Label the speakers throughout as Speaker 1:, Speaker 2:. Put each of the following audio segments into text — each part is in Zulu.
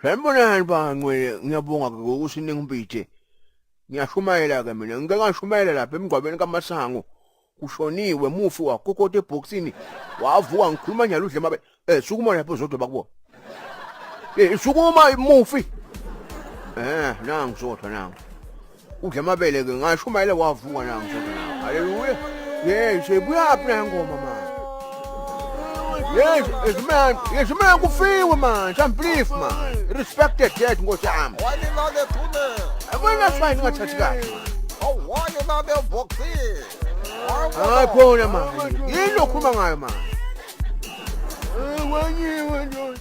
Speaker 1: Sanibonani ba Ncwele, ngiyabonga ke ngokuthi ningimpithe. Ngiyashumayela ke mina, ngike ngashumayela lapha emgwabeni kaMasango. Kushoniwe mufi wakokota ebhokisini, wavuka ngikhuluma nyalo udle mabe. Eh sukuma lapho zodwa bakubo. Eh sukuma mufi. Eh nangu zodwa nangu. udla amabele ke ngashumayela wavuka na mfowethu na haleluya yes ibuyaphi na ngoma manje yes yes man yes man kufiwe manje i'm believe man respected dead nkosi yami wani lale
Speaker 2: phune abona fine ngathathi
Speaker 1: kahle awani
Speaker 2: lale boxing hayi
Speaker 1: khona manje yini okhuluma ngayo manje wenyiwe ndoda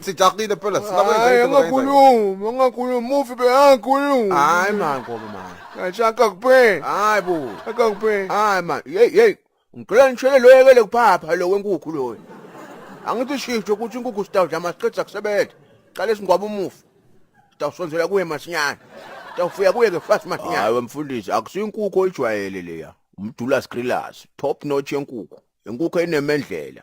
Speaker 2: Sijaxile phela Hayi angakhulumi,
Speaker 1: angakhulumi, mufi be angakhulumi. Hayi man ngoba man. Kacha akakupheli. Hayi bo. Akakupheli. Hayi man. Hey hey. Ngicela ngishele lo yekele kuphapha lo wenkukhu loyo. Angithi shift ukuthi inkukhu sitawudla masiqeda kusebenza. Qala isingwaba umufi. Sitawusonzela kuye masinyane. Sitawufuya kuye ke fast masinyane. Hayi mfundisi akusinkukhu oyijwayele leya. Umdula skrillers, top notch yenkukhu. Inkukhu enemendlela.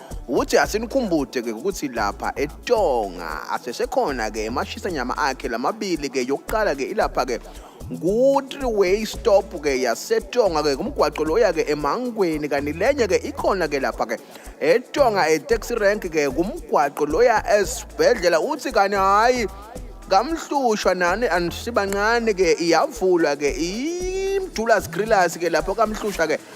Speaker 3: ukuthi asinikhumbude ke ukuthi lapha eTonga asesekhona ke emashisa nyama akhe lamabili ke yokuqala ke ilapha ke ku-three way stop ke yasetonga ke kumgwaqo lo ya-ke emangweni kanti lenye ke ikhona ke lapha ke etonga etaxi rank ke kumgwaqo lo ya esibhedlela uthi kanti hhayi kamhlushwa nani andisibancane ke iyavulwa ke imjula zigrillas ke lapho kamhlushwa ke